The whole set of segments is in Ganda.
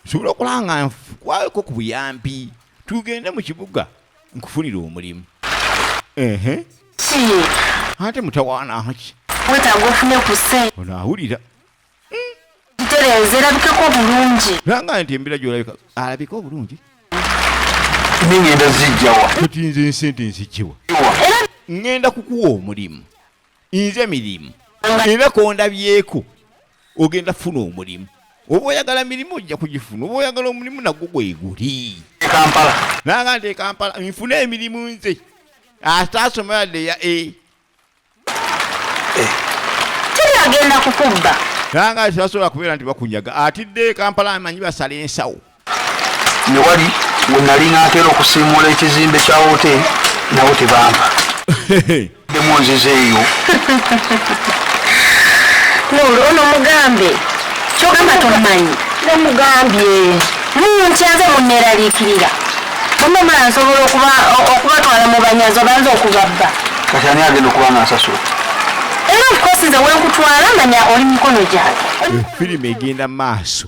sobola okola nga nkwako ku buyambi tugende mu kibuga nkufunire omulimu ehe ate mutawaana haki wetaaga ofune ku sente ono awulira gitereeza erabikeko obulungi langa nti embira gyolabika alabika obulungi nengenda zijjawa kati nze ensente nzijiwa ngenda kukuwa omulimu nze mirimu era kondabyeko ogenda funa omulimu oba oyagala mirimu ojja kugifuna oba oyagala omulimu nagwo gweguli nanga nti ekampala nfuna emirimu nze ate asoma yadde ya a eh. agenda kukubba nanga tebasobola kubeera nti bakunyaga atidde ekampala amanyi basala ensawo ne wali we nali nateera okusiimuula ekizimbe kya woteeri nawo tebampa demu nziza eyo nuulu ono mugambe kyogamba tomanyi nemugambye munkyaze muneraliikirira mumamala nsobola okubatwala mu banyazi obanza okubabba kati ani agenda okuba nga nsasula era ofkosi nze wenkutwala manya oli mikono gyange efirimu egenda maaso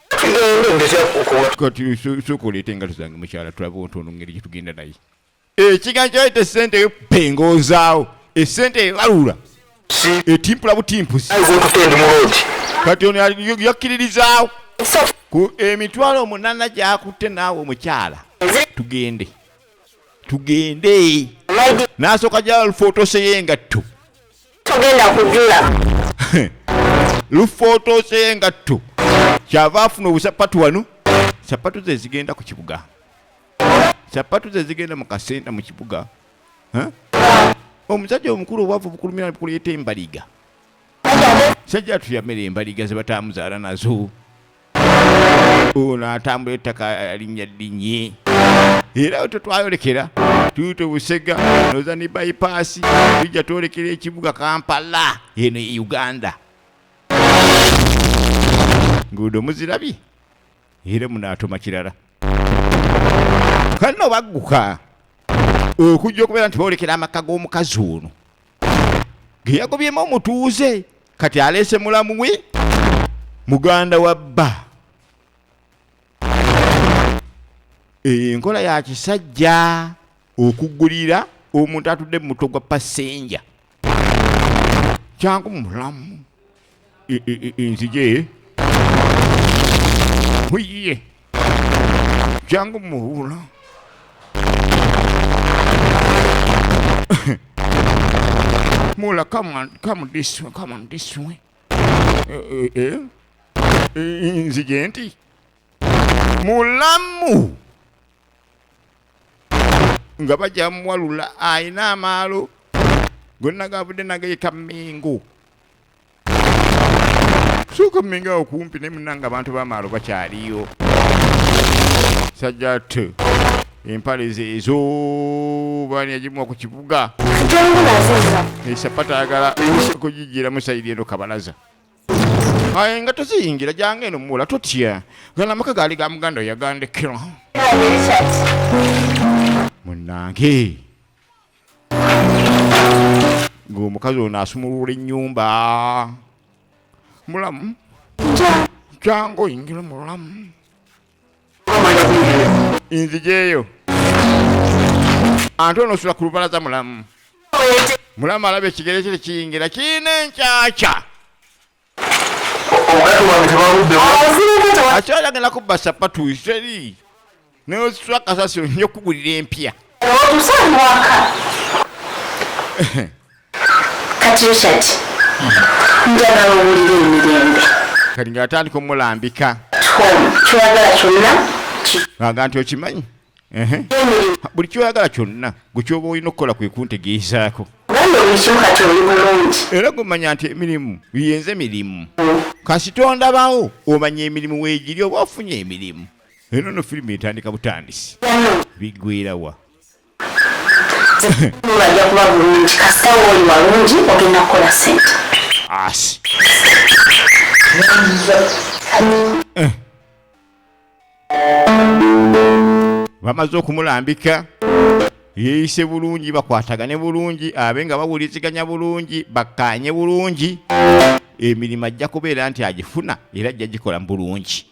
sukuleeta engato zange mukyala tulabe ontono ngeri gyetugenda naye ekigambo eh, kyayita esente eyo pengozaawo esente eh, ebalula etimpula eh, butimpusi kati ono yakkiririzaawo ku emitwalo omunana gyakutte naawe omukyala tugende tugende n'asooka gyalufotose y'engatto togenda kujula lufootooseye engatto kyava afuna obusapatu wano sapatu ze zigenda ku kibuga sapatu ze zigenda mu kasenta mu kibuga omusajja omukulu obwavu bukulumira bukuleeta embaliga sajja tuyamera embaliga ze batamuzaala nazo ono atambula ettaka alinnya ddinyi era oto twayolekera tuuto busega noza ne bayipaasi tujja twolekera ekibuga kampala eno e uganda nguudo muzirabye era munaatoma kirala kanno bagguka okujja okubeera nti boolekera amaka g'omukazi ono geyagobyemu omutuuze kati aleese mulamu we muganda wa bba eh, enkola ya kisajja okugulira omuntu atudde mu mutwe gwa pasenja kyangu mulamu e, e, e, enzije muyiye Jangu muwulo. Mula, come on, come this way, come on this way. Eh, eh, eh. Nzigenti. Mulamu. Nga bajja muwalula alina amaalo gonna gavudde nageyita mingu sooka mumenga awo kumpi naye munanga abantu bamaalo bakyaliyo sajja t empale zeezo bani yagimuwa ku kibuga esapata ayagala kugijira musayiri eno kabalaza aye nga toziyingira jange eno muwula totya gala amaka gaali ga muganda oyagandekera munange ng'omukazi ono asumulula ennyumba mulamu jangu oyingire mulamu nzijeeyo ante ono osula ku lubalaza mulamu mulamu alaba ekigere kye tekiyingira kirina enkyakya akyala agenda kubba sapatu iseri neositula kasasiro nja okugulira empya kati richard njagala owulira emirembe kati nga atandika omulambika kyagala kyonna aga nti okimanyi buli kyoyagala kyonna gwe kyoba olina okukola kwe kuntegeezaako era gumanya nti emirimu yenze mirimu kasita ondabawo omanya emirimu weegiri oba ofunye emirimu eno no firimu etandika butandisi bigwerawa bajja kuba bulungi kasita wooli walungi ogenda kukola sente asi eh. bamaze okumulambika yeeyise bulungi bakwatagane bulungi abe nga bawuliziganya bulungi bakkaanye bulungi emirimu ajja kubeera nti agifuna era ajja gikola bulungi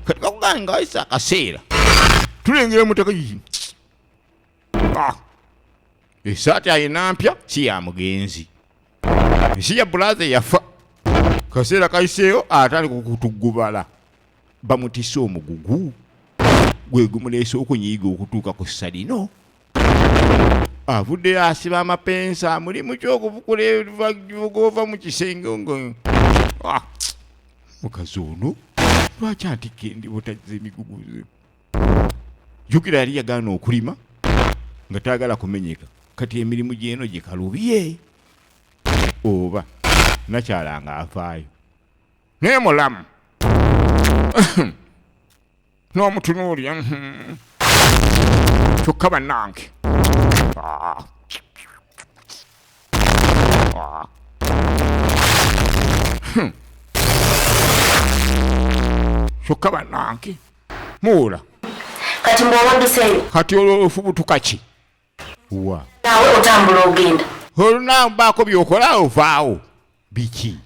kati bakugane nga wayise akaseera tulengera mutaka Ah. esaati ayina mpya si ya mugenzi si ya bulaza eyafa kaseera kayiseeyo atali kukutugubala bamutise omugugu gwe gumuleese okunyiiga okutuuka ku ssa lino avuddeyo asiba amapensa mulimu kyokuvukula evuga ova mu kisenge nga ah, mukazi ono lwaki antikka endi butazza emiguguze jukira yali yagaana okulima nga tayagala kumenyeka kati emirimu gyeno gyekalubye oba nakyala nga afaayo naye mulamu n'omutunuulya hmm. kyokka bannange ah. Ah. Hmm. kyokka bannange muwula kati mbwowanduseyo kati olwo ofubutuka ki wa nawe otambula ogenda olunaku baako byokola ovaawo biki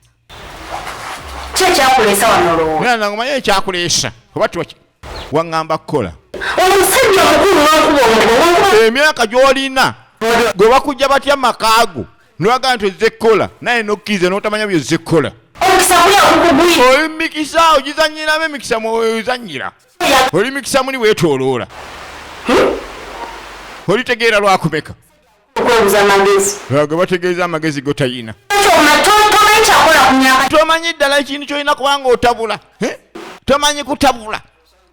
ki ekyakuleesa wanolowoana omanyi ekyakuleesa oba tiwaki waŋŋamba kukola omusajja omukulu wankuba omugo emyaka gy'olina gwe bakujja batya makaago nwaga nti ozze kukola naye nokkiriza notamanya byozze kukola oli mumikisa ogizanyiramu emikisa mwozanyira oli mikisa muli wetoloola hmm? olitegeera lwakumeka gebategeeza amagezi gotayina tomanyi ddala ekintu kyolina kubanga otabula tomanyi kutabula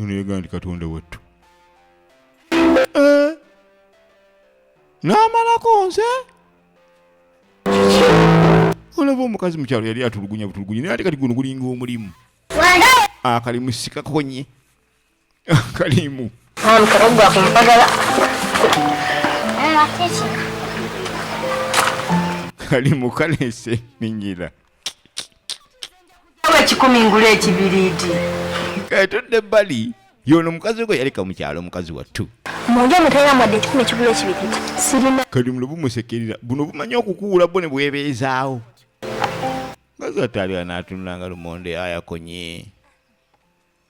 ono yagamba nti katonda wattu eh? n'amalako nze olaba omukazi mukyalo yali atulugunya butulugunya naye ate kati guno gulinga omulimu akalimu sikakonye akalimu kalimu kalese minyira ekikumi ngula ekibiriiti katudde ebbali yono mukazi gwe yaleka mu kyalo mukazi wattu munge mutera mwadde ekikumi ekigula ekibiriiti sirina kali muno bumusekerera buno bumanyi okukuula bwo ne bwebeezaawo mukazi wattu aliwa n'atunulanga lumonde ayakonye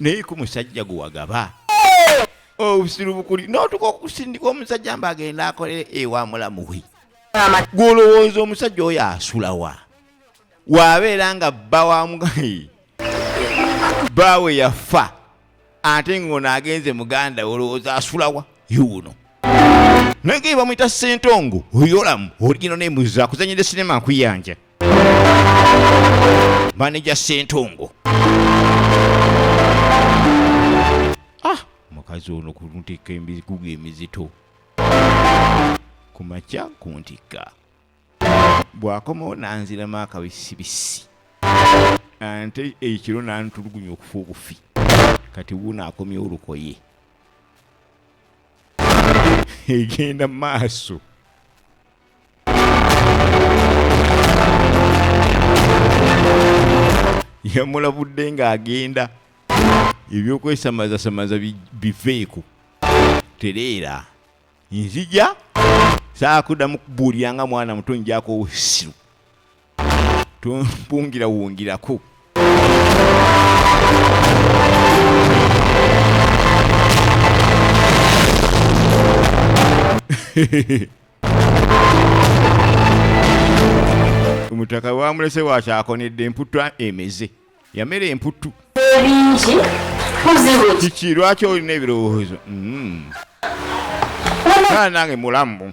naye ku musajja gwe wagaba obusiru oh, bukuli notuka okusindika omusajja mba agenda akolere ewa mulamuwe gwolowooza omusajja oyo asulawa wabeera nga bba wamugayi baawe yafa ate ngaono agenze muganda olowooza asulawa yuuno naye nga ebamwita sentongo oyolamu oligino nemuza kuzanyira sinema nkuyanja maneja sentungu ah, mukazi ono kuntikka emigugu emizito kumakya kuntikka bwakomawo nanziramu akabisibisi ante ekiro nantulugunya okufa obufi kati wuuno akomyewo olukoye egenda maaso yamulabudde ng'agenda ebyokwesamaazasamaza biveeko tereera nzija saakudamu kubuulira nga mwana muto njako obusiru tumpungila wungilako omutaka wamulese wakyakonedde emputtu emeze yamera emputtu ebingi kiki lwaki olina ebirowoozo mm. nange mulamu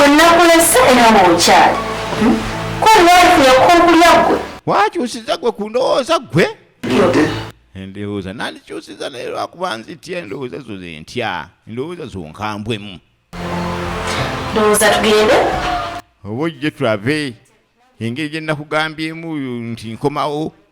wenakulese era wokyali hmm? kwewaifu yakuwa okulya gwe wakyusiza gwe ku ndowooza gwe endowooza nandikyusiza naye lwakuba nzitya endowooza zo zentya endowooza zonkambwemu ndowooza tugende oba ojje tulabe engeri gye nakugambyemu nti nkomawo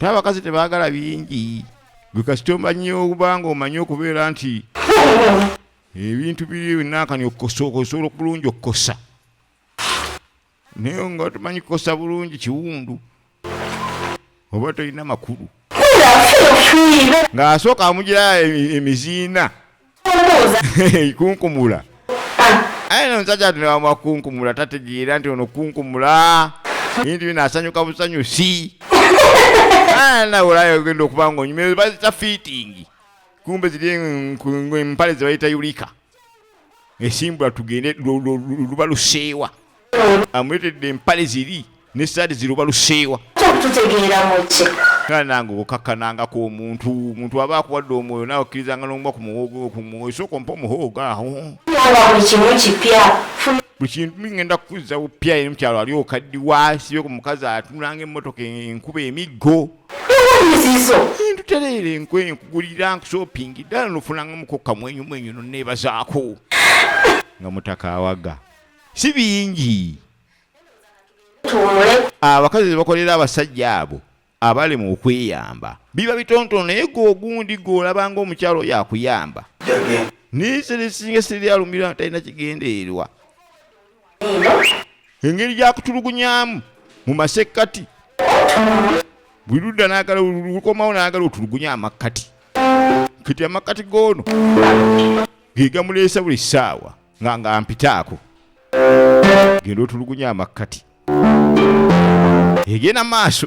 naye abakazi tebagala bingi gwe kasita omanyi obanga omanyi okubeera nti ebintu biri binakani okukosa osobola okulungi okukosa naye nga tumanyi kukosa bulungi kiwundu oba tolina makulu ng'asooka amugira e, emiziina kunkumula aye nomusajja tunewamuwa kunkumula tategeera nti ono kunkumula bintu bino asanyuka busanyusi nawolayo ogenda okuba nga onyumire bazita fiitingi kumbe ziri empale zebayita yulika esimbula tugende luba luseewa amuletedde empale ziri ne saadi ziruba luseewa nange okakkanangako omuntu omuntu aba akuwadde omwoyo nawe okkirizanga nomuba ku muhoogo ku mwoyo sooka ompa omuhoogo awo buli kintu ngenda kukuzza bupya eri mukyalo ali okaddiwa sibe ku mukazi atunulanga emmotoka enkuba emiggo ntutereera enkwenyo kugulira nkushoppingi ddala nofunangamuko kamwenyumwenyu noneebazaako nga mutaka awaga si bingi abakazi zebakolera abasajja abo abali mu okweyamba biba bitontono naye gwe ogundi gwe olaba ngaomukyalo oyo akuyamba naye sirisinga siri alumira talina kigendererwa engeri gyakutulugunyamu mu masekkati buli ludda nagala lukomawo nagala otulugunya amakkati kati amakkati goono gegamuleesa buli ssaawa nga nga mpitaako genda otulugunya amakkati egenda maaso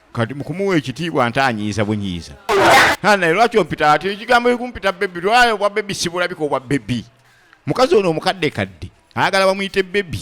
kati mukumuwa ekitiibwa nte anyiiza bunyiiza naye lwaki ompita ati ekigambo ekumpita bebi lwayo obwa bebi sibulabika obwa bebi mukazi ono omukadde kadde ayagala bamuyite bebi